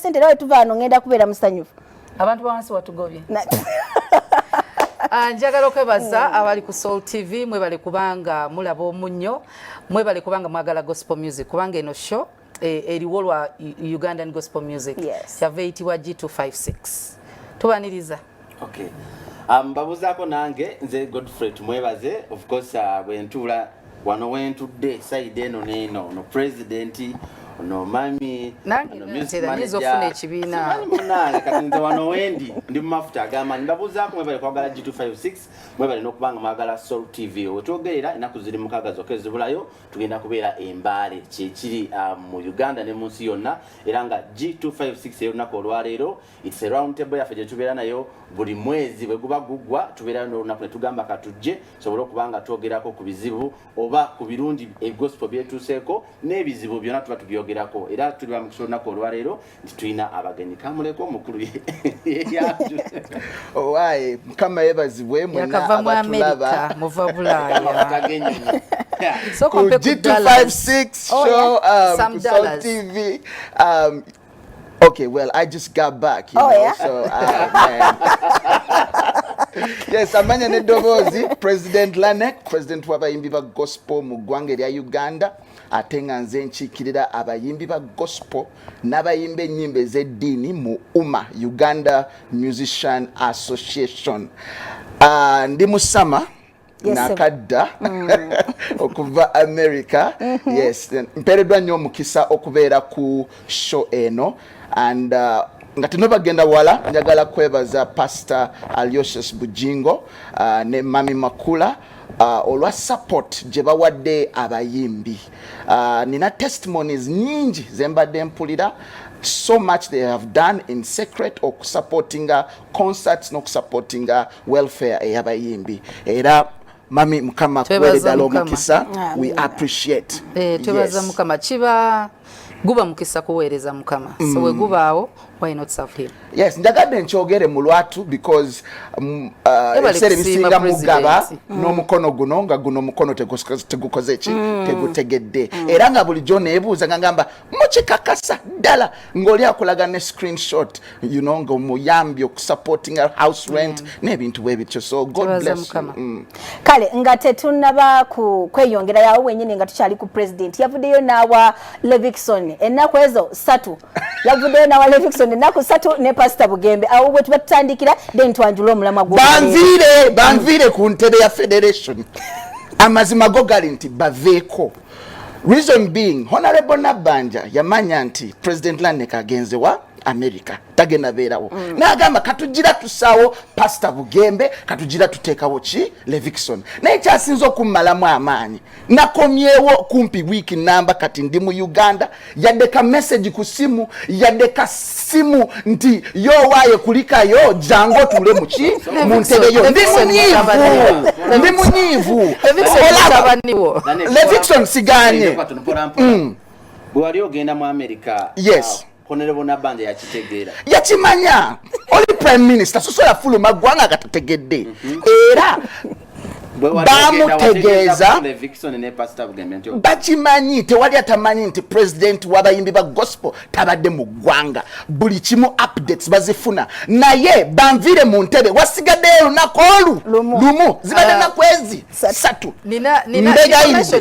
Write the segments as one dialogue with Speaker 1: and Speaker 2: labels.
Speaker 1: sente era wetuva wano ngenda kubeera musanyufu abantu bawansi
Speaker 2: watugobye ah, njagala okwebaza hmm. abali ku soul tv mwebale kubanga mulaba omunyo mwebale kubanga mwagala gospel music kubanga eno show eh, eriwo lwa ugandan gospel music kyava eyitibwa g256 tubaniriza
Speaker 3: okay mbabuzaako um, nange nze godfrey tumwebaze of course uh, bwentuula wano wentudde saidi eno neeno ono pulezidenti ono mami nangeofuna ekibiinamunange kati nze wano wendi ndi mu mafuta agamanyi mbabuzaako mwebale kwagala g256 mwebale nokubanga mwagala sol tv wetwogerera enaku ziri mukaga zoka ezibulayo tugenda kubeera embaale kyekiri uh, mu uganda ne munsi yonna era nga g256 eyo lunaku olwaleero It's a round table yaffe gye tubeera nayo buli mwezi bwe guba guggwa tubeerayo n'olunaku ne tugamba katujje tusobole okuba nga twogerako ku bizibu oba ku birungi egospel byetuuseeko n'ebizibu byonna tuba tubyogerako era tuli bamukisa olunaku olwaleero nti tulina abagenyi kamuleko omukulu owaye
Speaker 4: mukama yebazibwe mwena abatulaba muva bulaaya
Speaker 2: So, G256 show um,
Speaker 4: Some dollars. TV um, Okay, well, I just got back, you oh, know,
Speaker 1: yeah?
Speaker 4: so uh, yes, amanya ne dobozi President Lanek, President w'abayimbi ba gospel mu ggwanga erya Uganda ate nga nze nkiikirira abayimbi ba gospel n'abayimba ennyimba ez'eddiini mu UMA, Uganda Musician Association. Uh, ndi musama nakadda mm. okuva america mm-hmm. yes mpereddwa nnyo omukisa okubeera ku show eno and uh, nga tenobagenda wala njagala kwebaza pastor aliosius bujingo uh, ne mami makula uh, olwa support gye bawadde abayimbi uh, nina testimonies nyingi zembadde mpulira so much they have done in secret okusupportinga concerts n'okusupportinga welfare eyabayimbi era mami mukama kuwere ddala omukisa we appreciate eh, twebaza mukama
Speaker 2: kiba guba mukisa kuweereza mukama so mm. wegubaawo why not serve him yes njagadde
Speaker 4: nkyogere mu lwatu because mm, uh, ebiseera ebisinga mugaba mm. n'omukono guno nga guno omukono tegukoze ki mm. tegutegedde era nga bulijjo neebuuza nga ngamba mukikakasa ddala ng'oli akulaga ne screenshot you know nga omuyambye okusupportinga house rent mm. n'ebintu bwe bityo so god bless you mm. kale nga
Speaker 1: tetunaba ku kweyongera yawo wenyini nga tukyali ku president yavuddeyo n'awa levixon ennaku ezo satu yavuddeyo n'awa levixon ennaku satu ne pasita bugembe awo bwe tuba tutandikira then twanjula omulamwa gwo banviire banviire
Speaker 4: ku ntebe ya federation amazima go gali nti baveeko Reason being Honorable Nabanja yamanya nti President Lanek agenze wa America tagenda beerawo mm. Nagamba katujira tusaawo Pastor Bugembe katujira tuteekawo ki Levixon naye kyasinze okummalamu amaanyi nakomyewo kumpi wiiki namba kati ndi mu Uganda yadde ka message ku simu yadde ka simu nti yowaye kulikayo jangu otuule muki mu ntebe yo ndi munyiivu ndi munyiivu levixon siganye mm.
Speaker 3: bwewali ogenda mu amerika yes uh,
Speaker 4: honerebonabanja
Speaker 3: yakitegeera yakimanya
Speaker 4: oli prime minister sosola fuluma ggwanga agatategedde mhm. era bamutegeeza bakimanyi tewali atamanyi nti president wabayimbi ba gospel tabadde mu ggwanga buli kimu updates bazifuna naye banviire mu ntebe wasigaddeyo olunaku olu lumu zibadde ah. nakwezi satu mbegayinze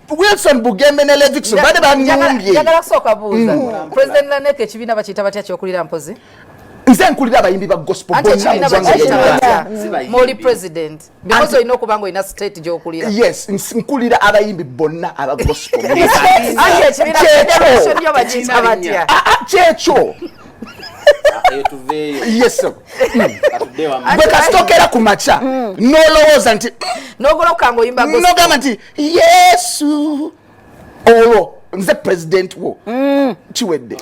Speaker 4: Wilson Bugembe ne Levixon bade banumbye. Yagala kusoka buuza. Mm.
Speaker 2: President Lanek ekibiina bakiyita batya kyokulira mpozi? Nze nkulira
Speaker 4: abayimbi ba gospel bonna mu ggwanga lyonna.
Speaker 2: Muli president. Because olina okuba nga olina state gy'okulira. Yes, nkulira
Speaker 4: abayimbi bonna aba gospel. Kyekyo. Bwe kasitokera ku makya mm. n'olowooza nti mm. nogamba nti yesu olwo nze president wo mm. kiwedde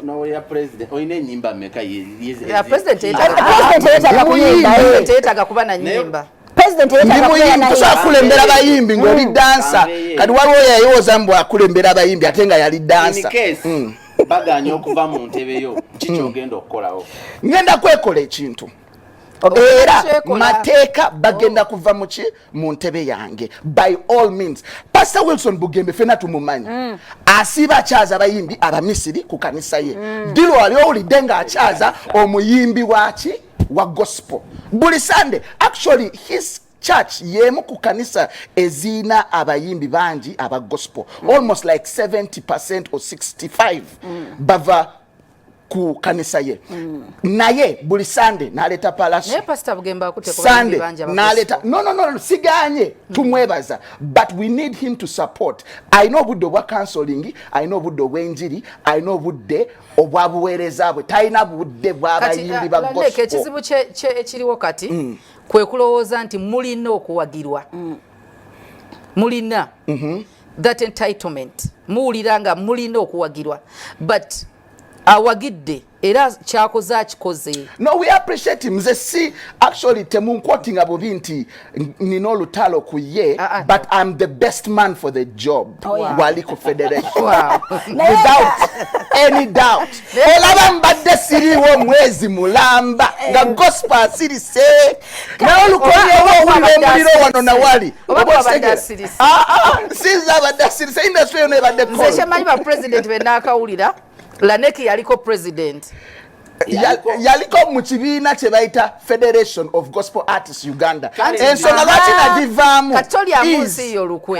Speaker 1: akulembera bayimbi
Speaker 4: ngaoli mm. dansa kati waliwo yayiwoza mbu akulembera abayimbi ate nga yali dansa mm. baganya
Speaker 3: okuva mu ntebe yo kiki ogenda okukolawo ngenda kwekola
Speaker 4: ekintu era mateeka bagenda oh. kuva muki mu ntebe yange by all means pastor wilson bugembe fena tumumanyi mm. asiiba akyaza abayimbi abamisiri ku kanisa ye mm. dilo wali owulidde nga akyaza omuyimbi waki wa gospel buli sunday actually his church yemu ku kanisa eziina abayimbi bangi aba gospel mm. almost like 70 or 65 mm. bava ku kanisa ye mm. naye buli sande naleta palaso naye pastor bugemba akute
Speaker 2: kwa sande naleta no no no, no
Speaker 4: siganye mm. tumwebaza but we need him to support i know budde obwa counseling i know budde obwenjiri i know budde obwa buwereza bwe talina budde bwabayimbi uh, ba gospel kati ekizibu kye
Speaker 2: ekiriwo kati mm. kwe kulowooza nti mulina okuwagirwa mm. mulina mm -hmm. that entitlement muwulira nga mulina okuwagirwa but awagidde era kyakoze akikoze no we appreciate
Speaker 4: mze si actually temunkwotinga bubi nti nina olutalo ku ye uh, uh, but no. im the best man for the job oh, yeah. wali ku federation wow. without any doubt olaba mbadde siriwo mwezi mulamba nga gospel asirise nawe lukolera owulira omuliro wano nawali ah, ah, sinza abadde asirise industry yona ebadde nze kyemanyi ba president
Speaker 2: benakawulira laneki yaliko president
Speaker 4: yaliko mu kibiina kye bayita federation of gospel artists uganda ensonga lwaki nagivaamu katolyamunsi
Speaker 2: yo lukwe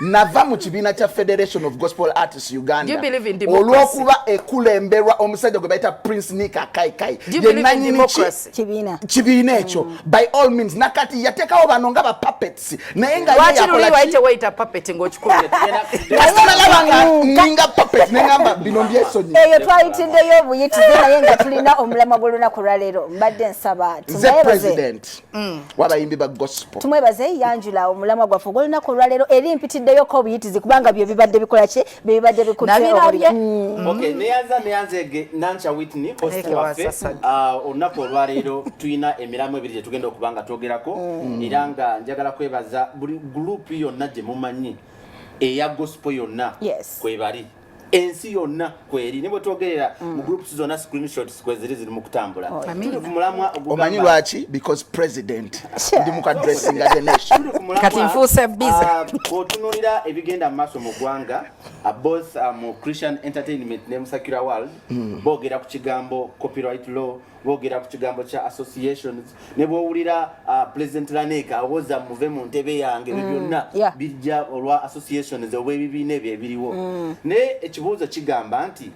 Speaker 4: nava mu kibiina kya federation of gospel artists uganda olw'okuba
Speaker 2: ekulemberwa
Speaker 4: omusajja gwe bayita prince nika kaikai yenanyini
Speaker 2: kibiina
Speaker 4: ekyo mm. by all means nakati yatekawo bano nga bapapets naye
Speaker 2: ngayakolaaninga
Speaker 4: papet nengamba bino byesonyeyo twayitiddeyo
Speaker 1: obuyitize naye nga tulina omulamwa gw'olunaku lwaleero mbadde nsaba nze president
Speaker 4: Mm. wabayimbi ba gospel tumwebaze yanjula
Speaker 1: omulamwa gwaffe ogwolunaku olwaleero eri mpitiddeyoko obuyitizi kubanga byo bibadde bikola ki byebibadde bikutnabirabye mm. ok
Speaker 3: neyanza neyanza ege nanca witney host waffe ah, olunaku olwaleero tulina emiramwa ebiri gyetugenda okuba nga twogerako mm. era nga njagala kwebaza buli gurupu yonna gye mumanyi eya gospel yonna kwebali ensi yonna kweri ne bwetwogerera mm. mu groups zonna screenshots kweziri ziri mu kutambula oh, tuli ku mulamwa ogugamba omanyi lwaki
Speaker 4: because president ndi mu kadressinga the nation kati nfuuse
Speaker 2: busy ah, bw'otunuulira
Speaker 3: ebigenda mu maaso mu ggwanga ah, both ah, mu christian entertainment ne mu secular world mm. boogera ku kigambo copyright law bogera ku kigambo kya associations ne bwowulira uh, president laneka awoza muve mu ntebe yange mm, byonna bijja olwa associations oba ebibiina ebyo ebiriwo mm. naye ekibuuzo kigamba nti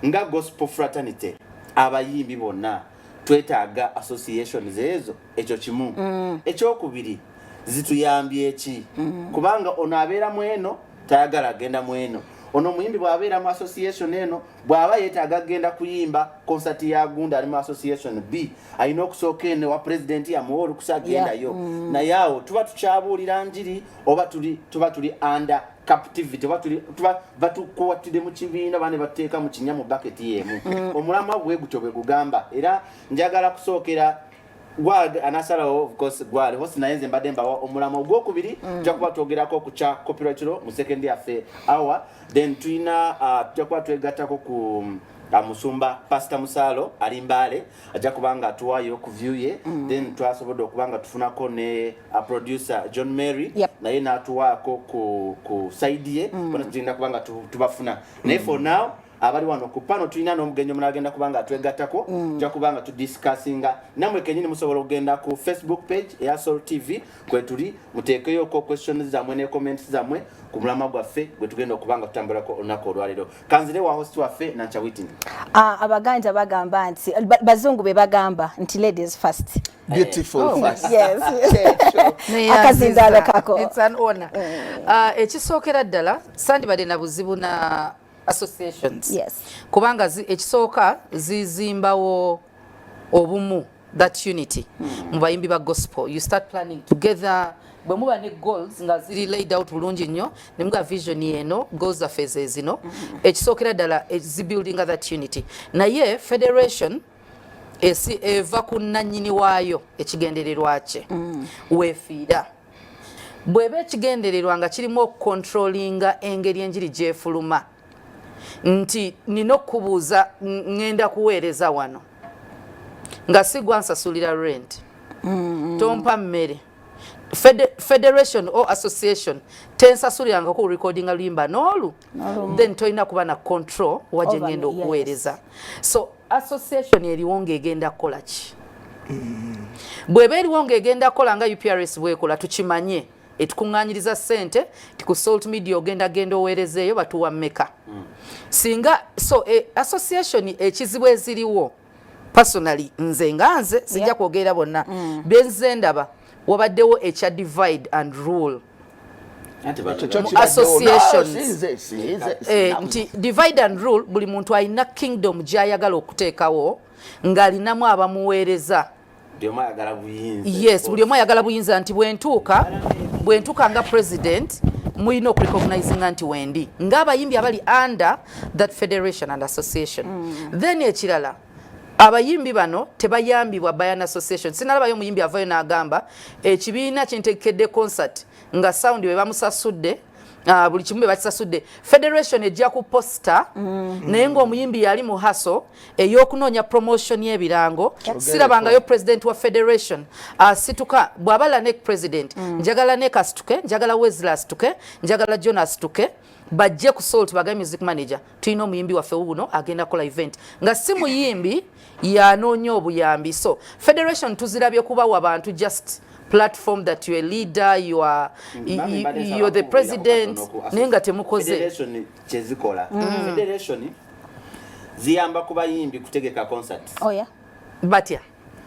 Speaker 3: nga gospel fraternity abayimbi bonna twetaaga associations ezo ekyo kimu mm. ekyokubiri zituyambye eki kubanga ono abeera mu eno tayagala agenda mu eno ono omuyimbi bw'abeera mu association eno bw'aba yeetaaga kugenda kuyimba konsati ya gunda ali mu association b alina okusooka eno wa pulezidenti yamuwa olukusa agendayo mm. naye awo tuba tukyabuulira njiri oba tuba tuli under captivity oba batukuwattide mu kibiina bane batteeka mu kinya mu baketi yeemu mm. omulamwa bwe gutyo bwe gugamba era njagala kusookera gwad anasalawo of course gwad hosi naye nze mbadde mbawa omulamo ogwokubiri mm. tujja kuba twogerako ku kya copyright law mu second yaffe hour then tulina uh, tujja kuba twegattako ku um, musumba pasita musaalo ali mbaale ajja kuba nga atuwaayo ku view ye mm. then twasobodde okuba nga tufunako ne uh, producer john mary naye n'atuwaako ku saidi ye bona tugenda kuba nga tubafuna naye for now abali wano ku pano tulina n'omugenyi omulala agenda kubanga atwegattako mm. ja kubanga tudiscussinga namwe kenyini musobola okugenda ku facebook page eya sol tv kwetuli muteekeyoko questions zamwe ne comments zamwe ku mulama gwaffe gwe tugenda okubanga tutambulako olunaku olwaleero kanzire wa host waffe nanca witin ah, abaganja
Speaker 1: bagamba nti bazungu be bagamba nti ladies first beautiful oh,
Speaker 4: first
Speaker 1: yes akazindaalo kako mm.
Speaker 2: ah, ekisookera ddala sandibadde na buzibu na associations yes. kubanga ekisooka zizimbawo obumu that unity mm. mu bayimbi ba gospel you start planning together bwe muba ne goals nga ziri laid out bulungi nnyo ne muga vision eno goals zaffe zezino mm-hmm. ekisookera ddala eh, zibuildinga that unity naye federation esi eva ku nnannyini waayo ekigendererwa kye mm. weefiira bweba ekigendererwa nga kirimu okukontrolinga engeri enjiri gyefuluma nti nina okukubuuza ŋŋenda kuweereza wano nga sigwa nsasulira rent mm-hmm. tompa mmere federation or association tensasuliranga ku recordinga luyimba n'olu then tolina kuba na control waje ngenda okuweereza so association eriwo ng'egenda kukola ki mm. bweba eriwo ng'egenda kukola nga uprs bwekola tukimanye etukuŋŋanyiriza sente ti ku salt media ogenda genda oweerezeeyo batuwa meka mm. singa so e, association ekizibu eziriwo personally nze nga nze sijja kwogera bonna mm. benze ndaba wabaddewo ekya divide and rule Eh, nti divide and rule buli muntu alina kingdom gyayagala okuteekawo ng'alinamu abamuweereza yes buli omu ayagala buyinza nti bwentuuka bwentuuka nga president mulina okurecognizinga nti wendi ng'abayimbi abali under that federation and association mm. then ekirala abayimbi bano tebayambibwa by an association sinalabayo omuyimbi avayo n'agamba ekibiina kintekedde concert nga sound bwe bamusasudde ah, buli kimu bwe bakisasudde federation ejja ku posta mm. naye ng'omuyimbi yali mu haso ey'okunoonya promotion y'ebirango sirabangayo president wa federation asituka ah, bw'aba lanek president mm. njagala nek asituke njagala wesla asituke njagala john asituke bajje ku salt bagaye music manager tulina omuyimbi waffe wuuno agenda kola event nga si muyimbi yanoonya obuyambi so federation tuzirabye kubawa bantu just platform that you're a leader you are mm, you're the president naye nga temukoze kyezikola
Speaker 3: mm. federation ziyamba kubayimbi kutegeka concert oh yeah
Speaker 1: batya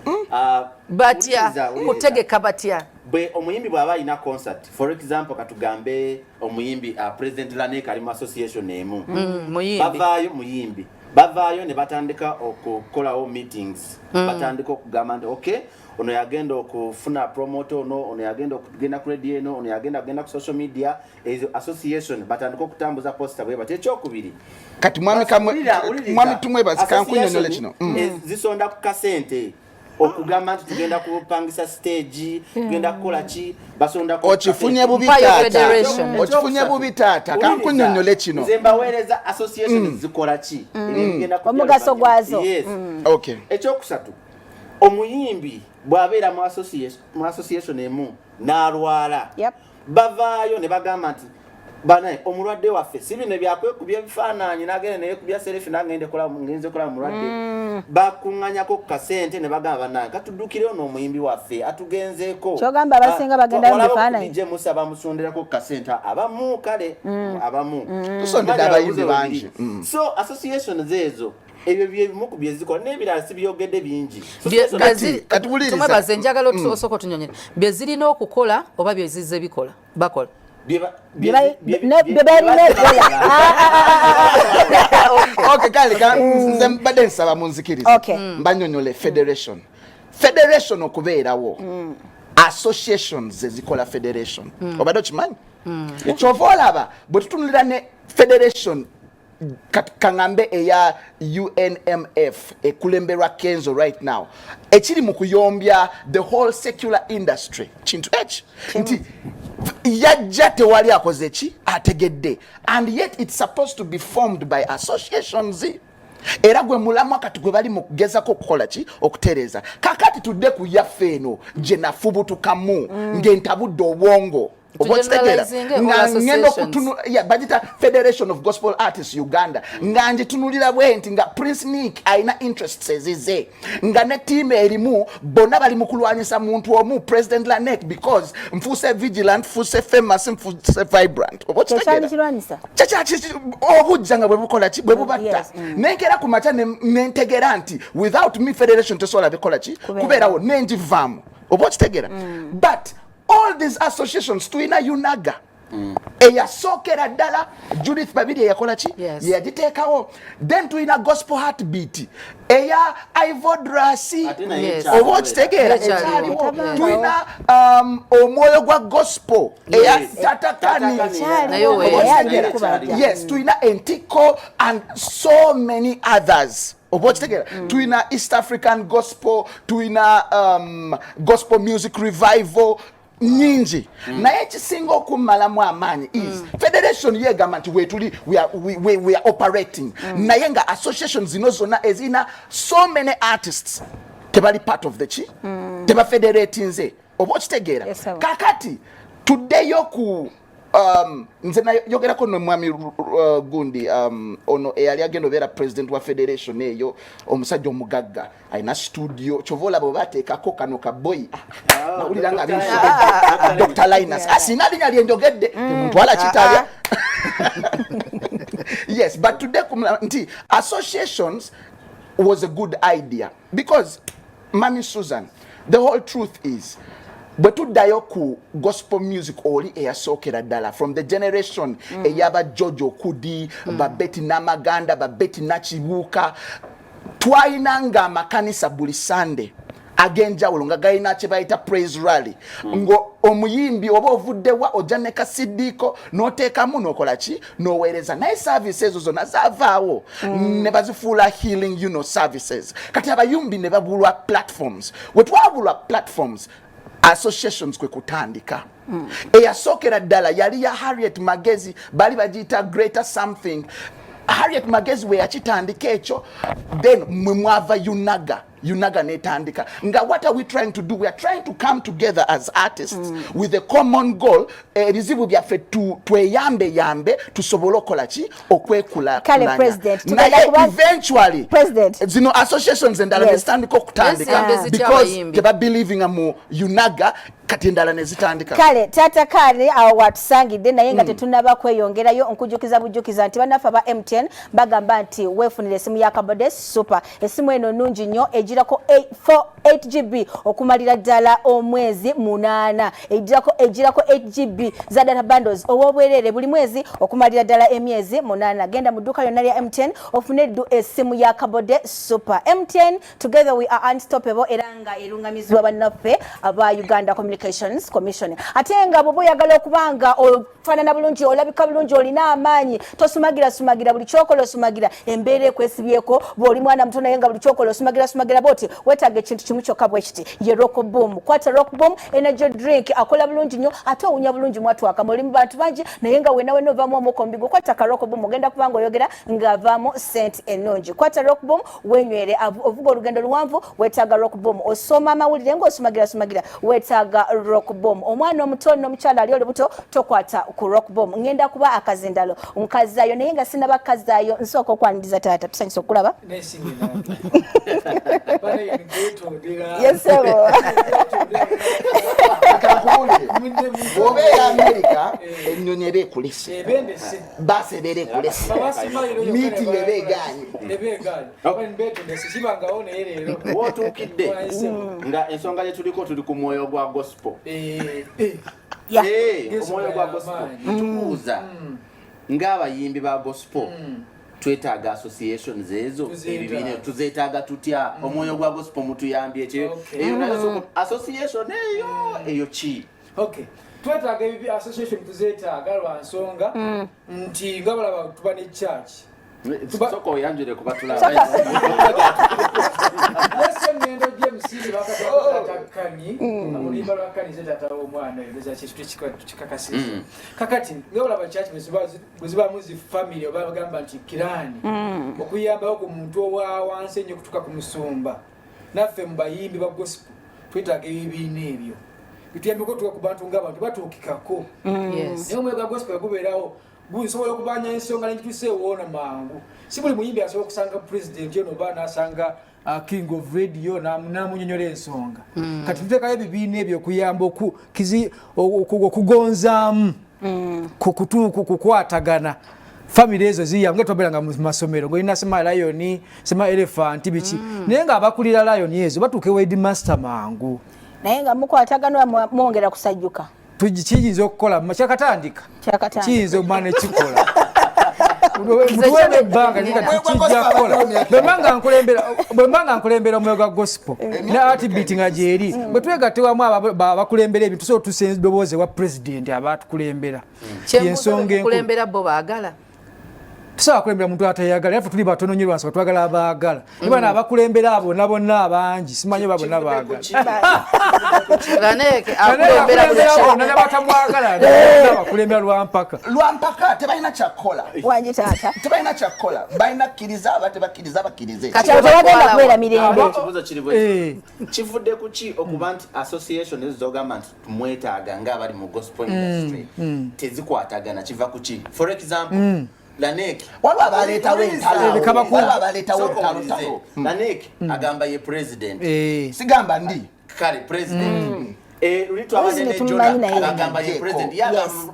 Speaker 2: Hmm? Ah, batya kutegeka batya bwe omuyimbi bw'aba
Speaker 3: alina concert for example katugambe omuyimbi uh, president lanek ali mu association emu hmm, bavaayo muyimbi bavaayo ne batandika okukolawo meetings hmm. batandika okugamba nti okay ono yagenda okufuna promote ono ono yagenda okugenda ku radio eno ono yagenda kugenda ku social media ezo association batandika okutambuza posta bwe batya ekyokubiri kati mwami kamwe
Speaker 4: mwami tumwe bazika nkunyonyola kino mm. eh, zisonda ku
Speaker 3: kasente okugamba nti tugenda kupangisa stage tugenda kukola ki basonda ko okifunye bubi tata
Speaker 4: okifunye bubi tata kankunyonyola kino nze mbaweereza
Speaker 3: association mm. zikola ki mm. omugaso
Speaker 1: gwazo okay
Speaker 4: ekyokusatu
Speaker 3: omuyimbi bwabeera mu association emu n'alwala bavaayo ne bagamba nti banaye omulwadde waffe si bino byakwekubya ebifaananyi nagenda neyekubya serefi nagende ngenze kola mulwadde mm. bakuŋanyako ku kasente ne bagamba banaye katuddukire ono omuyimbi waffe atugenzeeko kyogamba abasinga ah,
Speaker 1: bagenda mu bifaananyi dj musa bamusonderako
Speaker 3: ku kasente abamu kale mm. abamu mm. tusondedde abayimbi
Speaker 4: bangi so associations
Speaker 3: ezo ebyo byebimu ku byezikola n'ebirala sibyogedde bingi
Speaker 2: tumwebaze enjagala mm. osooka otunyonyera bye zirina okukola oba bye zizze bikola bakola
Speaker 4: mbadde nsaba munzikiriza mm. mbanyonyole federation federation okubeerawo mm. associations zezikola federation obadde okimanyi kyova olaba bwe tutunulira ne federation kangambe eya UNMF ekulemberwa Kenzo right now ekiri mu kuyombya the whole secular industry kintu eki nti yajja tewali akoze ki ategedde and yet it's supposed to be formed by associations era gwe mulamwa kati gwe bali mu kugezako okukola ki okutereeza kakati tudde ku yaffe eno gye nafubutukamu mm. ng'entabudde obwongo obwokitegeera nga ngenda okutunula bagita federation of gospel artists uganda nga ngitunulira bwenti nga prince nick alina interests ezize nga ne tiimu erimu bonna bali mu kulwanyisa muntu omu president lanek because nfuuse vigilant nfuuse famous nfuuse vibrant obujja nga bwebukola ki bwebubatta mm. nenkera ku makya nentegera nti without me federation tesobola bikola ki kubeerawo nenjivaamu oba okitegeera mm. but all these associations tulina unaga mm. eyasookera ddala judith babiri eyakola ki yes. yeyagiteekawo then tulina gospel heart beat eya ivodrasi yes. oba okitegeera ekyaliwo tulina um, omwoyo gwa gospel eya yes. tatakani yes. tulina entikko and so many others oba okitegeera mm. tulina east african gospel tulina um, gospel music revival nyingi mm. naye ekisinga okummalamu amaanyi is mm. federation yegamba nti wetuli we are, we, we, we are operating mm. naye nga association zino zonna ezirina so many artists tebali part of the ki mm. tebafederatinze oba okitegeera yes, kakati tuddeyo ku Um, nze nayogerako nomwami uh, gundi um, ono eyali agenda obeera president wa federation eyo omusajja omugagga alina studio kyova olaba obateekako kano kaboyi ah, nawulira nga dr linus asina ah, linya lyenjogedde mm. temuntwala ah, kitalya yes but today nti associations was a good idea because Mami Susan, the whole truth is bwe tuddayo ku gospel music oli eyasookera ddala from the generation mm. eyaba george okudi mm. babeti namaganda babeti nakibuuka twalina nga amakanisa buli sunday ag'enjawulo nga galina kye bayita praise rally mm. nga omuyimbi oba ovuddewa ojja ne kasidiiko n'oteekamu n'okola ki noweereza naye service ezo zonna zavaawo mm. ne bazifuula healing you know services kati abayumbi ne babulwa platforms we twabulwa platforms associations kwe kutandika mm. eyasookera ddala yali ya harriet magezi bali bagiyita greater something harriet magezi we yakitandika ekyo then mwe mwava unaga UNAGA netandika nga what are we trying to do we are trying to come together as artists mm. with a common goal ebizibu eh, byaffe tweyambe yambe tusobole okola ki okwekula naye eventually president. zino associations endala yes. nezitandika okutandika yes, because tebabelievinga mu UNAGA kati endala nezitandika kale tata kale
Speaker 1: awo watusangidde naye nga mm. tetunaba kweyongerayo nkujukiza bujukiza nti banaffe aba MTN bagamba nti wefunire esimu ya kabode super Esimu eno nungi nnyo ejirako 8 GB okumalira ddala omwezi munana ejirako ejirako 8 GB za data bundles owobwerere buli mwezi okumalira ddala emyezi munana genda mu dduka yonna lya MTN ofune ddu esimu ya kabode super MTN together we are unstoppable era nga erungamizibwa bannaffe aba Uganda Communications Commission ate nga bwoba oyagala okubanga fanana bulungi olabika bulungi olina amaanyi tosumagira sumagira buli kyokola osumagira embeera ekwesibyeko bwoli mwana muto naye nga buli kyokola osumagira sumagira bwoti wetaaga ekintu kimu kyokka bwekiti ye rockboom kwata rockboom energy drink akola bulungi nnyo ate owunya bulungi mwatwaka muli mu bantu bangi naye nga wena wena ovamu omukombigo kwata ka rockboom ogenda kubanga oyogera ng'avaamu sente ennungi kwata rockboom wenywere ovuga olugendo luwanvu wetaaga rock boom osoma amawulire ng'osumagira sumagira wetaaga rock boom omwana omuto n'omukyala ali olubuto tokwata ku rock boom ngenda kuba akazindalo nkazayo naye nga sinaba kazayo nsooka okwaniriza taata tusanyusa okulaba yesebo obeera
Speaker 4: amerika ennyonyi eba ekulese basi ebeera ekulese miitingi eba egaanye
Speaker 3: wotuukidde nga ensonga gye tuliko tuli ku mwoyo gwa gospel eh, eh. Eh, omwoyo gwa gospel tubuuza mm. ng'abayimbi ba gospel mm. twetaaga associations ezo ebibiina tuzetaaga tutya mm. omwoyo gwa gospel mutuyambye ekyo eyo nayo association eyo eyo ki okay twetaaga
Speaker 5: ebibi association tuzetaaga lwa nsonga nti nga balaba tuba ne church Soko
Speaker 3: oyanjule kuba tulaba. Yesu
Speaker 5: ngendo je msiri bakatoka takani. Amulimba bakani zeta tata omwana yeza kitu kika kikakasisa. Mm. Kakati nge olaba church msiba msiba muzi family oba bagamba nti kirani. Mm. Okuyamba ku muntu owa wanse nyo kutuka ku musumba. Naffe mbayimbi ba gospel. Twetaga ebibina ebyo. Bituyambeko tuwa ku bantu ngabantu batuukikako. Mm. Yes. Nyo
Speaker 2: mwega gospel
Speaker 5: gubeerawo. nsobola okubanja ensonga nengitusa ewoona mangu si buli muyimbi asobola okusanga pulezidenti ono oba nasanga uh, king of radio namunyonyola ensonga mm. kati tutekayo ebibiina ebyo okuyamba okugonzaamu mm. kukutuuku kukwatagana famiry ezo ziyamu nga twabeeranga mu masomero ngaolina sima lion sima elefanti biki mm. naye nga abakulira lion ezo batuuka ewedi master mangu naye nga
Speaker 1: mukwatagana mwongera kusajjuka kiyinza okukola
Speaker 2: kyakatandika kiyinza omwana ekikola mutuweemu ebbanga kijja kukola bwemba nga nkulembera omwoyo gwa gospel eh. ne atibit nga gyeri mm. bwe twegatte wamu abakulembera ebintu tusobola tusa edoboozi ewa pulezidenti abatukulembera mm. yensonga enkulembera bo baagala tusobola kulembera muntu atayagala yafe tuli batono nyo lwansi batwagala abaagala mm. ibana abakulembera abo nabonna abangi simanyi oba bonna baagalabatamwagalabakulembera eh. lwampaka lwampaka tebalina
Speaker 4: kyakukola wanyi taata
Speaker 1: tebalina kyakukola
Speaker 4: balina kkiriza aba tebakkiriza abakkirize kati abo tebagenda kubeera
Speaker 1: mirembe eh.
Speaker 3: kivudde kuki okuba nti association ezizogamba nti mwetaaga nga abali mu gospel mm, industry mm. tezikwatagana kiva ku ki for example mm. Lanek waliwo abaleetawo
Speaker 4: entaloekabakulu abaleetawo entalo
Speaker 3: Lanek mm. agamba ye president eh. sigamba ndi
Speaker 4: kale president
Speaker 3: mm. eh, luli twabadde ne jona agamba ye president yagamba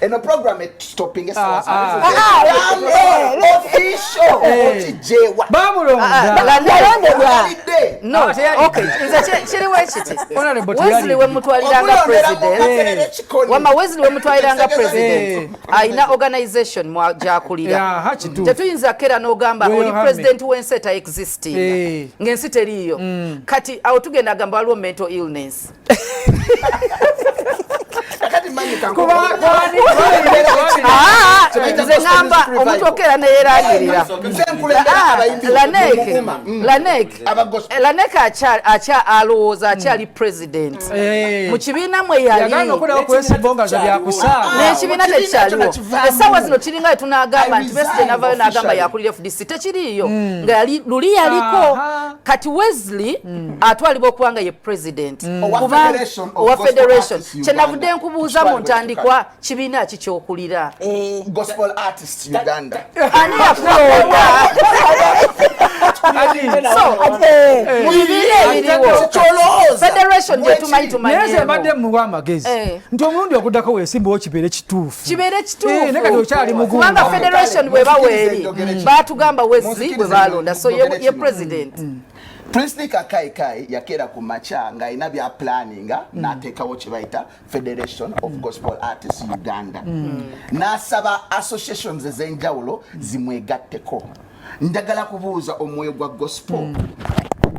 Speaker 4: eno program stopping esawa official okijewa bamulondabalondebwa
Speaker 2: no okay nze kiriwo ekiti wesley wemutwaliranga president wama wesley wemutwaliranga president alina organization mwajakulira tetuyinza kera nogamba oli president wensi eta existing ngaensi teriiyo kati awo tugenda gamba waliwo mental illness ngamba omuntu okeera neyerangirira lanek akya alowooza akyali president eh. mu kibiina mwe yalin'ekibiina tekyaliwo essaawa zino kiringa wetunagamba nti besigye navayo nagamba yakulira fdc tekiriiyo hmm. nga luli yaliko kati wesley mm. atwalibwa okuba nga ye president mm. owa federation kyenavudde nkubuuza mu ntandikwa kibiina ki kyokulira
Speaker 4: eh. ani
Speaker 2: yakulonda federation gyetumanyi tumanyimbadde muwa
Speaker 6: amagezi eh. nti omulundi oguddako wesimbawo kibeere kituufu kibeere
Speaker 2: kituufukubanga eh, federation bwe baweeri mm. batugamba wezi bwe balonda so ye president mm. Princely
Speaker 4: Kakai Kai yakera ku macha nga ina bya planning mm. na teka wo chibaita Federation of mm. Gospel Artists Uganda mm. na saba associations zenjawulo mm. zimwegatteko ndagala kubuuza omwoyo gwa gospel mm.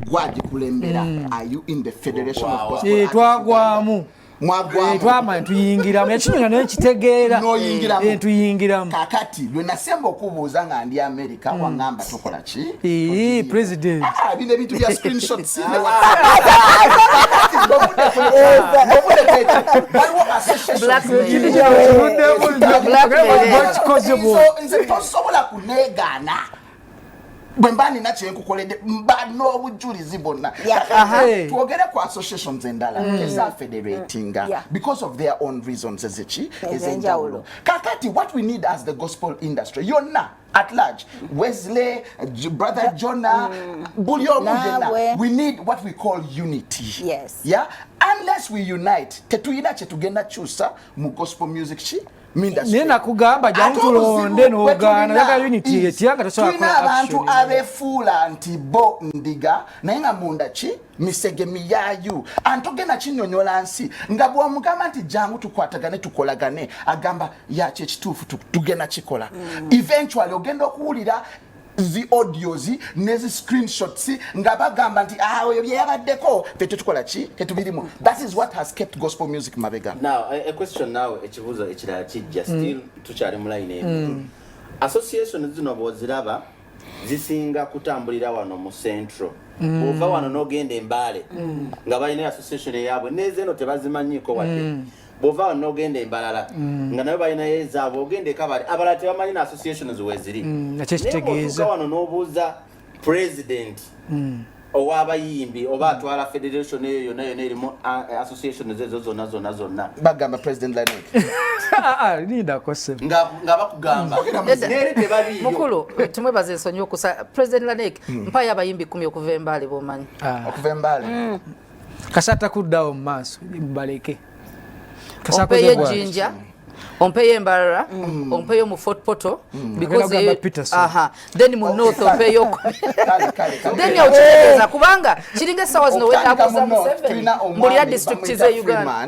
Speaker 4: gwagikulembera mm. are you in the federation oh, wow. of gospel eh, twagwamu
Speaker 6: mwagwamutwamanya
Speaker 4: tuyingiramu
Speaker 6: ekinyonyo naye kitegeera eh, tuyingiramu kakati lwe
Speaker 4: nasemba okubuuza nga ndi america hmm. wangamba tukola ki president ah,
Speaker 6: bino ebintu
Speaker 4: bya screenshots nze tosobola kunegaana bwemba nina kyenkukoledde mba n'obujjulizi bonna twogere ku associations endala mm. ezafederatinga mm. because of their own reasons eziki ezenjawulo kakati what we need as the gospel industry yonna at large wesley brother jonah mm. buli omu yenna we need what we call unity yes. yeah?
Speaker 1: unless
Speaker 4: we unite tetuyina kyetugenda kyusa mu gospel music ki naye
Speaker 6: nakugamba jantulonde nogaana yaga unity yetya nga tosobola abantu
Speaker 4: abefuula nti bo ndiga naye nga munda ki misege miyayu antogenda kinyonyola nsi nga bwomugamba nti jangu tukwatagane tukolagane agamba yakyekituufu tugenda kikola mm. eventually ogenda okuwulira zi audios ne zi screenshots nga bagamba nti ah oyo bye yabaddeko fe tetukola ki tetubirimu that is what has kept gospel music mabega now a question now
Speaker 3: ekibuzo ekirala kijja mm. still mm. tukyali mu line emu mm. association zino boziraba zisinga kutambulira wano mu central mm. ova wano nogenda embaale mm. nga balina association eyabwe nezeno tebazimanyiko wadde mm. bwova wano nogenda embalala mm. nga nayo balinayo ezaabwe ogenda ekabale abalala tebamanyi na associations weziri mm, nakyekitegeeza
Speaker 6: wano nobuuza
Speaker 3: president mm. owabayimbi oba atwala federation eyo yona yona erimu association zezo zona zona zona bagamba president
Speaker 4: lanik ah,
Speaker 6: ah, nga bakugamba
Speaker 3: neri tebaliyo mukulu tumwebaza
Speaker 2: ensonyi okusa president lanik mpayo abayimbi kumi okuva embaale bomanyi ah. okuva embaale
Speaker 4: kasata
Speaker 6: kuddawo mu maaso baleke
Speaker 2: ompeyo ejjinja ompeyo embarara mm. ompeyo mu fort poto mm. then mu north ompeyo then okitegeeza kubanga kiringa essaawa zino wetabuza museveni mbulira district ze uganda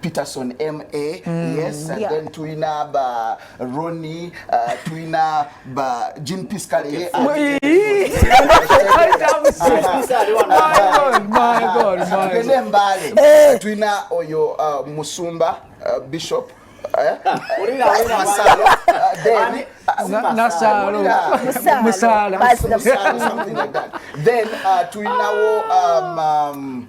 Speaker 4: Peterson MA mm, yes and yeah. then tuina ba Ronnie uh, tuina ba Jean Piscal ye my god my
Speaker 6: god my god mbale eh.
Speaker 4: tuina oyo uh, musumba uh, bishop eh? then
Speaker 6: uh,
Speaker 4: tuinawo um, um,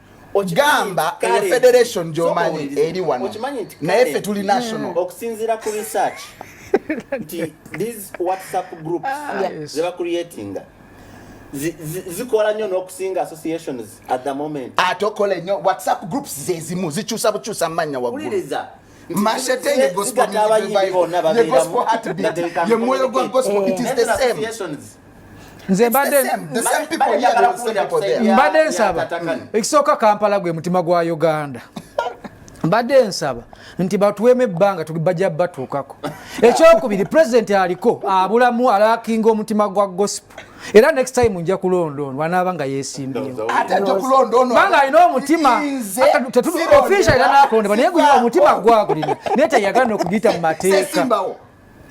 Speaker 4: gamba eyo federation gyomanyi eri wano naye ffe tuli national hmm. okusinzira ku research
Speaker 3: nti these whatsapp groups ah, zebacreatinga zikola nnyo n'okusinga associations at the moment ate okola nnyo whatsapp
Speaker 4: groups zezimu zikyusa bukyusa mu mannya waggulu
Speaker 3: Mashetenge
Speaker 4: gospel music revival. The gospel heartbeat.
Speaker 6: The moyo
Speaker 4: gwa gospel. It is the same. nze mbadde nsaba
Speaker 6: ekisooka kampala gwe mutima gwa uganda mbadde nsaba nti batuwemu ebbanga bajja batuukako ekyokubiri pulezidenti aliko abulamu alakinga omutima gwa gospel era next time nja kulonda ono anaaba nga yesimbyewoanga
Speaker 4: alina omutima
Speaker 6: ofisha era nakulondebwa naye guy omutima gwagulina naye teyagala nokugiyita mu mateeka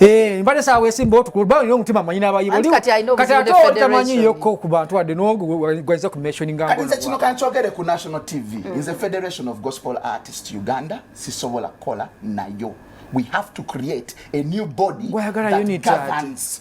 Speaker 6: eh, mbadde saawa wesimba otukulba olina omutima manyi nabayibo kati ate otamanyi yokko ku bantu wadde nogwaiza ku mentioninganze kino kankyogere
Speaker 4: ku national tv mm. nze federation of gospel artist uganda sisobola kukola nayo we have to create a new body that governs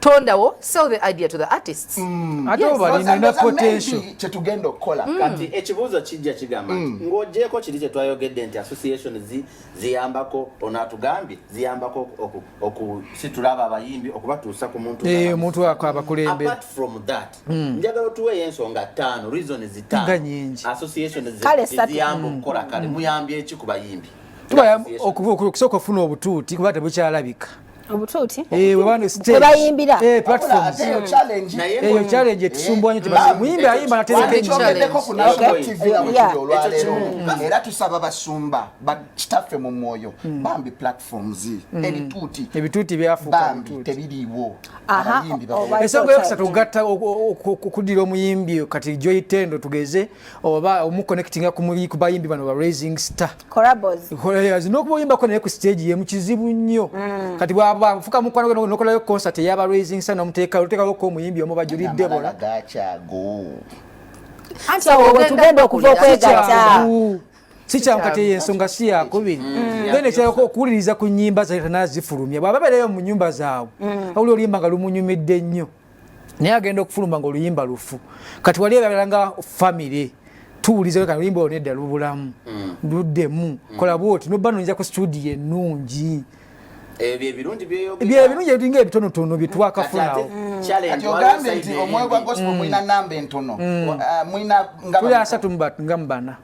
Speaker 2: tondawo sell the idea to the artists mm. ate obalina
Speaker 6: potential kyetugenda okukola
Speaker 4: mm. kati ekibuuzo
Speaker 3: kijja kigamba mm. ng'ogyeko kiri kye twayogedde nti association ziyambako ono atugambye ziyambako okusitula abo abayimbi okubatuusa ku muntu eh, omuntu ako abakulembe
Speaker 6: apart from that
Speaker 3: mm. njagala otuweeyo ensonga ttaano reason zitaano nyingi association ziyamba okukola kale muyambye eki ku bayimbi tubayamba okusooka
Speaker 6: okufuna obutuuti kuba tebukyalabika obutuuti
Speaker 1: eh,
Speaker 6: webayimbira
Speaker 1: eh,
Speaker 6: eyo challenge etusumbwa nyo muyimbi ayimba
Speaker 4: naterekeera tusaba basumba bakitaffe mu mwoyo hmm. bambi platforms hmm. ebituuti
Speaker 6: ebituuti byafukambi tebiriiwo ensonga yokusatu okugatta okudira omuyimbi kati joyitendo tugeze oba omuconnectinga kubayimbi bano ba raising star nokuba oyimbako naye ku stage yemu kizibu nnyo mm. kati bwafuka mukwano gwe nokolayo concert eyaba raising star nomuteeka otekaloko omuyimbi omu bajuli debola
Speaker 1: wetugenda okuva okwegatta sikyamu
Speaker 6: kati eyo ensonga si yakubiri mm. then ekyalako okuwuliriza ku nyimba zayita nazifulumya bwaba beereyo mu nyumba zaabwe mm. awuli oluyimba nga lumunyumidde nnyo naye agenda okufuluma nga oluyimba lufu kati wali ebagala nga famire tuwulizewe kano oluyimba olwo nedda lubulamu mm. luddemu mm. kola bwoti nobba nonyeza ku studio ennungi
Speaker 3: Eh, byebirungi ebinga
Speaker 6: ebitonotono byetwakafunawo
Speaker 4: mm.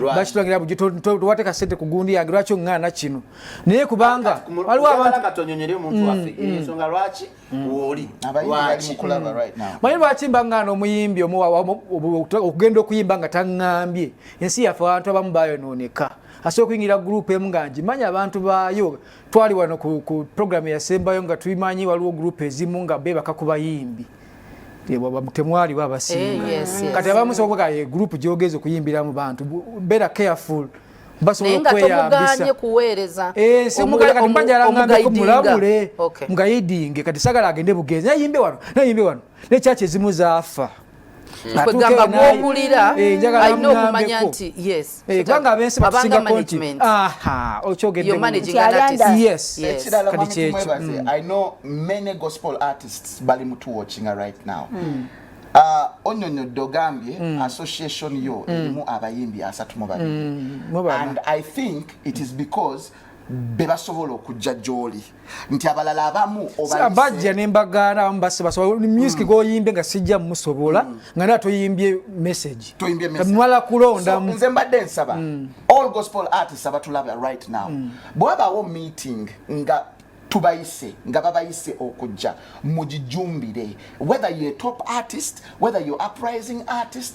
Speaker 6: lwaki tulangira buji towateka sente ku gundi yange lwaki oŋŋaana kino naye kubanga waliwo abantu katonyonyere omuntu mm, waffe
Speaker 3: mm. ensonga lwaki mm. wooli lwaki
Speaker 6: manyi lwaki mba ŋŋaana omuyimbi okugenda okuyimba nga taŋŋambye ensi yaffe abantu abamu bayonooneka asobola okuyingira gurupu emu nga ngimanyi abantu baayo twali wano ku programu eyasembayo nga tubimanyi waliwo gurupu ezimu nga beebaka ku bayimbi temwaliwo abasinga eh, kati abamu soboka ye group gyogeza okuyimbira mu bantu better careful basobola okweyambisa kuweereza eh, omugayidingamulabule mugayidinge kati sagala agende bugenzi nayimbe wano nayimbe wano ne kyaki ezimu zaafa hmm. kwegamba
Speaker 2: gwowulira eh, alina okumanya nti yes Eh, kubanga abensi
Speaker 6: batusinga konti aha
Speaker 4: okyogedde oh, bali mutu watching right now mm. Uh, ah, onyonyodde ogambye mm. association yo mm. erimu mm. abayimbi asatu mu babiri mm. and i think it is because bebasobola okujja gyoli nti abalala abamu bajja ne
Speaker 6: mbagaana abamu basibasoba music mm. goyimbe nga sijja musobola mm. nga nera toyimbye message mwala kulondamu nze mbadde nsaba mm.
Speaker 4: all gospel artists abatulaba right now bwabawo meeting nga tubayise nga babayise okujja mugijumbire whether ye top artist whether you uprising artist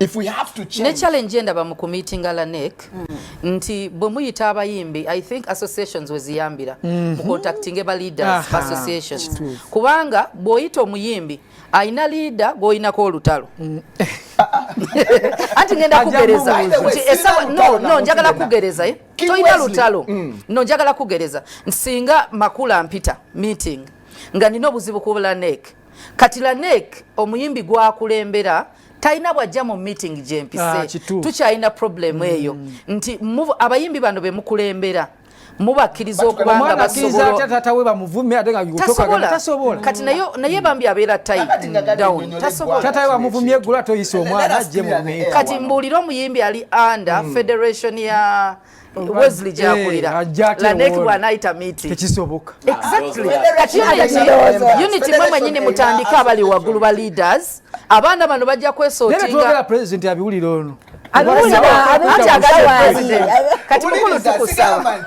Speaker 4: If we have to change. Ne challenge enda ba
Speaker 2: mukumiti ngala nek mm. nti bwe muyita abayimbi I think associations weziyambira mm -hmm. mu contacting eba leaders Aha. associations Chitu. kubanga bwoyita omuyimbi ayina leader gwoyinako olutalo mm. anti ngenda kugereza no njagala kugereza eh? toyina lutalo mm. no njagala kugereza nsinga makula mpita meeting nga nina obuzibu kubula nek kati la nek omuyimbi gwakulembera talina bwajja mu meeting gyempise ah, tukyalina problemu eyo mm. nti abayimbi bano bemukulembera mubakkiriza okuba
Speaker 6: nga basobolaatasobola kati naye bambi
Speaker 2: abeera tayitaatawe bamuvumye eggula
Speaker 6: toyisa omwana ajje mu kati mbuulire omuyimbi
Speaker 2: ali under mm. federation ya Wesley gyakulira eh, Lanek bw'anayita miiti tekisoboka ah, unity mwe mwenyini mutandike abali waggulu ba leaders abaana bano bajja kwesootinga pulezidenti
Speaker 6: abiwulira ono
Speaker 2: kati mukulu tukusaba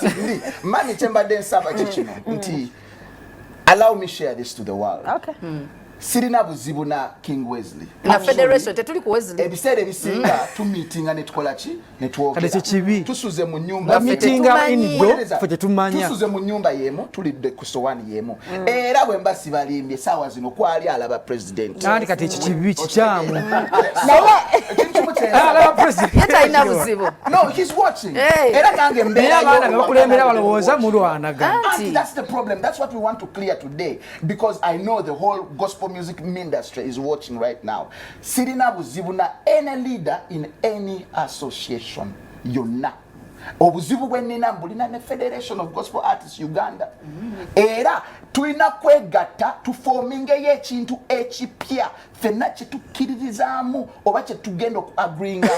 Speaker 2: mani
Speaker 4: kyembadde nsaba kikino mm. nti allow me share this to the world okay. mm. sirina buzibu na king wesley na federation tetuli
Speaker 2: ku wesley ebiseera ebisinga mm.
Speaker 4: tumitinga netukola ki netwogera kyekibi tusuze mu nyumba mitinga inido
Speaker 6: fe tetumanya tusuze mu nyumba yemu
Speaker 4: tulidde ku sowani yemu mm. era bwe mba sibalimbye sawa zino kwali alaba president nandi kati ekikibi
Speaker 6: kikyamu naye
Speaker 4: alaba president yata alina
Speaker 6: buzibu
Speaker 2: no he's watching
Speaker 4: era nange mbeera abaana bebakulembera
Speaker 6: balowooza mulwanaga that's the problem
Speaker 4: that's what we want to clear today because i know the whole gospel music industry is watching right now sirina buzibu na any leader in any association yonna obuzibu bwe nnina mbulina ne federation of gospel artists uganda era tulina kwegatta tufomingeyo ekintu ekipya fenna kyetukkiririzaamu oba kyetugenda okuagringa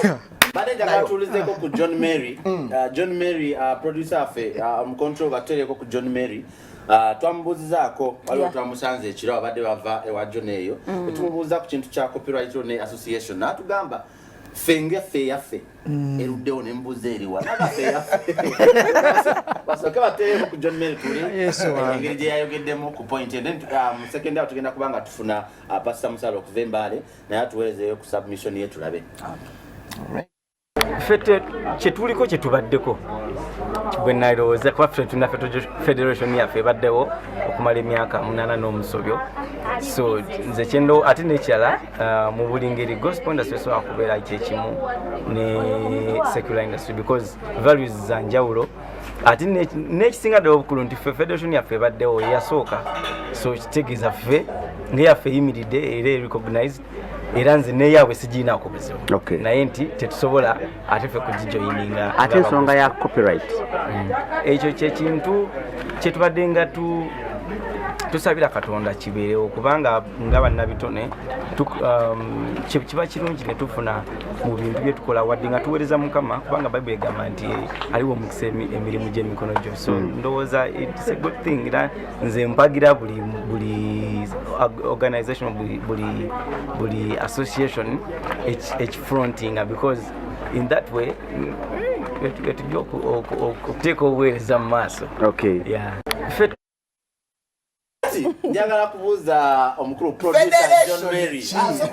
Speaker 3: maneja katulizeko ku john mary mm. uh, john mary uh, producer affe uh, omucontrol batutereko ku john mary Ah, twamubuuzizaako waliwo twamusanze ekiro abadde bava ewa jona eyo mm. etumubuuza ku kintu kya copyright ne association naatugamba ffe ngaffe eyaffe mm. eruddewo nemubuuza eriwa nagaffe eyaffe basooke bateewo ku john mary tuli engeri gye yayogeddemu ku point then ah, mu second awo tugenda kuba nga tufuna ah, pasita musala okuva embaale naye atuweerezeeyo ku submission ye tulabe
Speaker 7: ffe kyetuliko kyetubaddeko bwenalowooza kuba ffe tulina federation yaffe ebaddewo okumala emyaka munana n'omusobyo so nze kyendo ate nekirala uh, mu buli ngeri gospel industry esobola kubeera kyekimu ne secular industry because values za njawulo ate n'ekisinga ddala obukulu nti ffe federation yaffe ebaddewo eyasooka so kitegeeza ffe ngeyaffe eyimiridde era erecognized era nze neyaabwe sigiinaako buzibu naye nti tetusobola ate fe kugijoyininga ate ensonga ya
Speaker 8: copyright mm. ekyo
Speaker 7: kyekintu kyetubadde nga tu tusabira katonda kibeerewo kubanga nga bannabitone um, kiba kirungi ne tufuna mu bintu bye tukola wadde nga tuweereza mukama kubanga bayibuli egamba nti aliwo omukisa emirimu gy'emikono gyo so mm. ndowooza it's a good thing era nze mpagira buli buli organization buli buli buli association ekifrontinga because in that way etujja okuteeka obuweereza mu maaso okay yeah
Speaker 3: njagala kubuuza omukulu producer john mary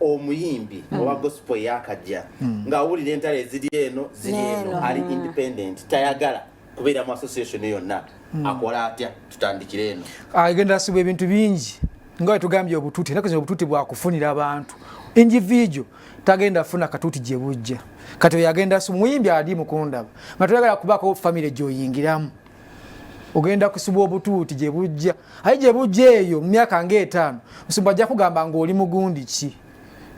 Speaker 3: omuyimbi mm. owa gospel eyakajja mm. ng'awulira entalo eziri eno ziri eno ali hmm. independent tayagala kubeera mu association yonna mm. akola atya tutandikire eno agenda asibwa ebintu
Speaker 6: bingi nga wetugambye obututi enaku zino obututi bwakufunira abantu individual tagenda afuna katuti gye bujja kati oyo agenda asibwa muyimbi ali mukundaba nga toyagala kubaako famire gyoyingiramu ogenda kusibwa obutuuti gye bujja aye gye bujja eyo mu myaka ng'etaano musumba ajja kugamba ng'oli mugundi ki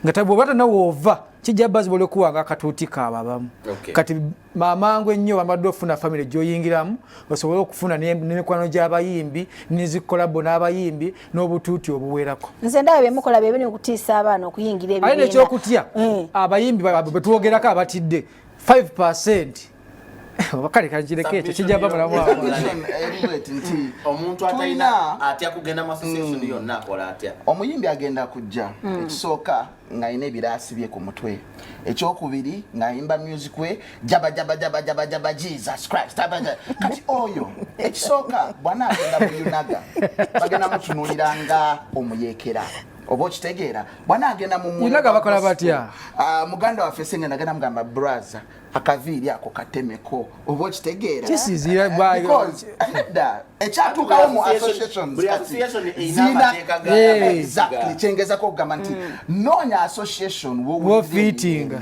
Speaker 6: nga tabwoba tanawoova kijja bazibola okuwanga akatuuti kaabo abamu kati mamangu ennyo bamaddwa okufuna famiry gyoyingiramu osobole okufuna nemikwano gy'abayimbi nezikolabo n'abayimbi n'obutuuti obuwerako nze ndaba byemukola
Speaker 1: byebiri okutiisa abaana okuyingira ebibiina aye nekyokutya
Speaker 6: eh. abayimbi betwogerako abatidde 5 percent kale kakireko ekyo kijja babula omuntu
Speaker 3: atalina atya kugenda mu association hmm. yonna akola atya omuyimbi agenda kujja
Speaker 4: hmm. ekisooka ng'alina ebiraasi bye ku mutwe ekyokubiri ng'ayimba music we jaba jaba jaba jaba jaba jesus christ kati oyo ekisooka bwana agenda muyunaga bagenda mutunulira nga omuyeekera oba okitegeera bwana agenda mumunaga bakola batya
Speaker 6: ah, muganda waffe
Speaker 4: sengenda agenda mugamba braza akaviiri ako katemeko oba okitegeera ekyatuukawo mu associationzinaezaly kyengezako okugamba nti mm. noonya association wofitinga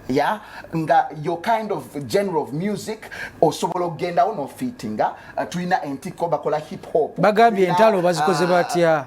Speaker 6: ya
Speaker 4: nga your kind of genre of music osobola okugendawo nofitinga uh, tulina entikko bakola hip hop bagambye entalo bazikoze
Speaker 6: uh, batya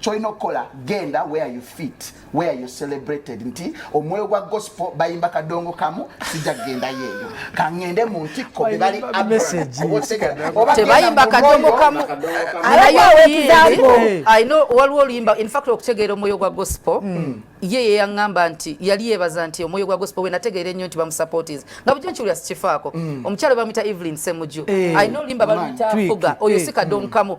Speaker 4: kyolina okukola genda where you fit where you celebrated nti omwoyo gwa gospel bayimba kadongo kamu sijja kugenda yeeyo kangende mu ntikko bebali
Speaker 6: tebayimba
Speaker 2: kadongo kamu waliwo oluyimba infact okutegeera omwoyo gwa gospel hmm. ye yeyaŋŋamba nti yali yeebaza nti omwoyo gwa gospel wenategeera ennyo nti bamusupportis nga bujo nkiwulira sikifaako hmm. omukyalo bamuyita evelyn semuju eh. alina oluyimba baluyita fuga oyo eh. si kadongo kamu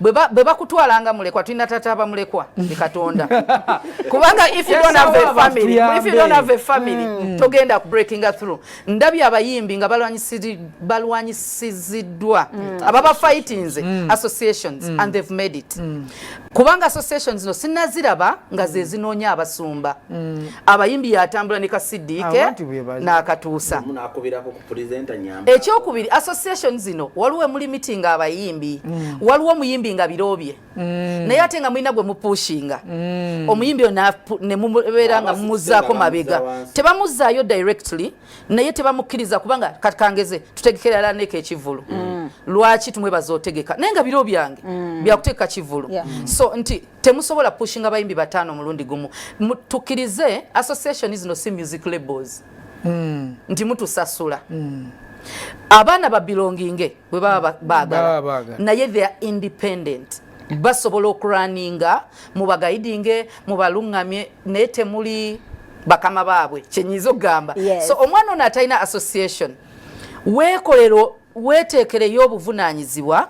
Speaker 2: bwe bakutwala nga mulekwa tulina taata abamulekwa ni katonda kubanga if you don't have a family if you don't have a family mm. togenda ku breaking through ndabye abayimbi nga balwanyisiziddwa mm. ababa fightinze mm. associations mm. and they've made it mm. kubanga association zino sinaziraba nga ze zinoonya abasumba mm. abayimbi yatambula ne kasidiike n'akatuusa
Speaker 3: ekyokubiri association
Speaker 2: zino waliwo emuli meeting abayimbi mm. waliwo omuyimbi nga birobye mm. naye ate nga mulina gwe mupushinga mm. omuyimbi oyo nemubeera nga mumuzaako mabega tebamuzaayo directly naye tebamukkiriza kubanga katkangeze tutegekera lala neeko ekivulu mm. lwaki tumwebaza otegeka naye nga biro byange mm. byakutegeka kivulu yeah. mm. so nti temusobola pushinga bayimbi bataano omulundi gumu tukkirize association zino si music labels mm. nti mutusasula mm. abaana ba belonginge bwe baba bagala naye they are independent basobola okuraninga mubagaidinge mubaluŋŋamye naye temuli bakama baabwe kyenyiza okugamba yes. so omwana ono atalina association wekolero weteekereyo obuvunaanyizibwa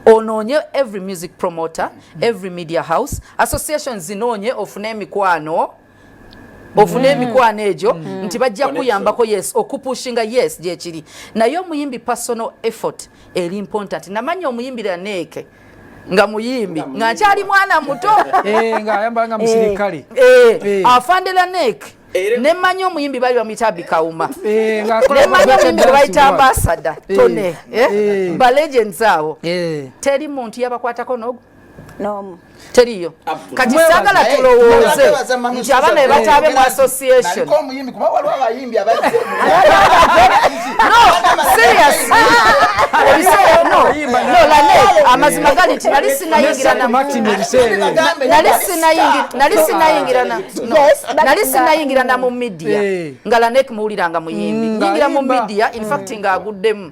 Speaker 2: onoonye every music promoter mm -hmm. every media house association zinoonye ofune emikwano ofune mm. emikwano egyo mm. nti bajja kuyambako yes okupushinga yes gyekiri naye omuyimbi personal effort eri important namanya omuyimbi laneeke nga muyimbi nga nkyali mwana muto eh, nga ayambala
Speaker 6: nga musirikale eh, eh, afande
Speaker 2: laneeke nemanya omuyimbi bali bamuyita bikawuma eh, nemanya omuyimbi gwebayita ambasada eh, tone eh, balegends awo teri muntu yabakwatako nogu n'omu
Speaker 1: teriyo
Speaker 2: kati sagala tulowooze nti abaana bebataabe mu association amazima gali nti nali sinayingirana mu midia eh. nga lanek muwuliranga muyimbi mm, nyingira mu midia infact mm. nga aguddemu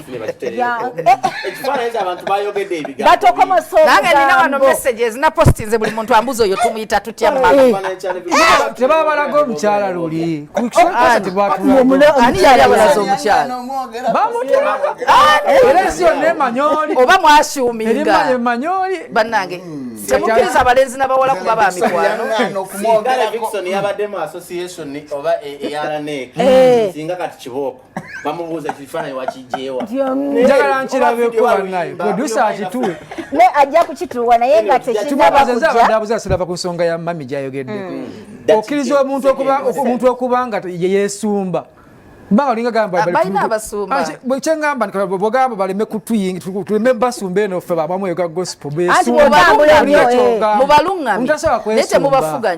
Speaker 2: napostinze buli muntu ambuza oyo tumuyita tutya
Speaker 6: tebabalaga omukyala luli oba
Speaker 2: mwasuumingaemanyoli banange hmm. temukiriza abalenzi nabawala kuba ba mikwano yabadde mu association oba eyaraneka eh. singa
Speaker 3: kati kibooko bamubuuza kifaananyi wakijjeewa njagala
Speaker 6: nkirabeko banaye producer akituwe ne ajja
Speaker 1: kukituwa naye nga tekinabakujja silava ku nsonga ya
Speaker 6: mami gyayogeddeko mm. okkiriza omuntu okuba omuntu okuba nga yeyeesumba mbanga olinga gamba
Speaker 2: kyeŋamba
Speaker 6: bwogamba baleme kutuyingi tuleme basumba eno ffe babamu ega gospel besumbamutasobola
Speaker 2: kwesumbaa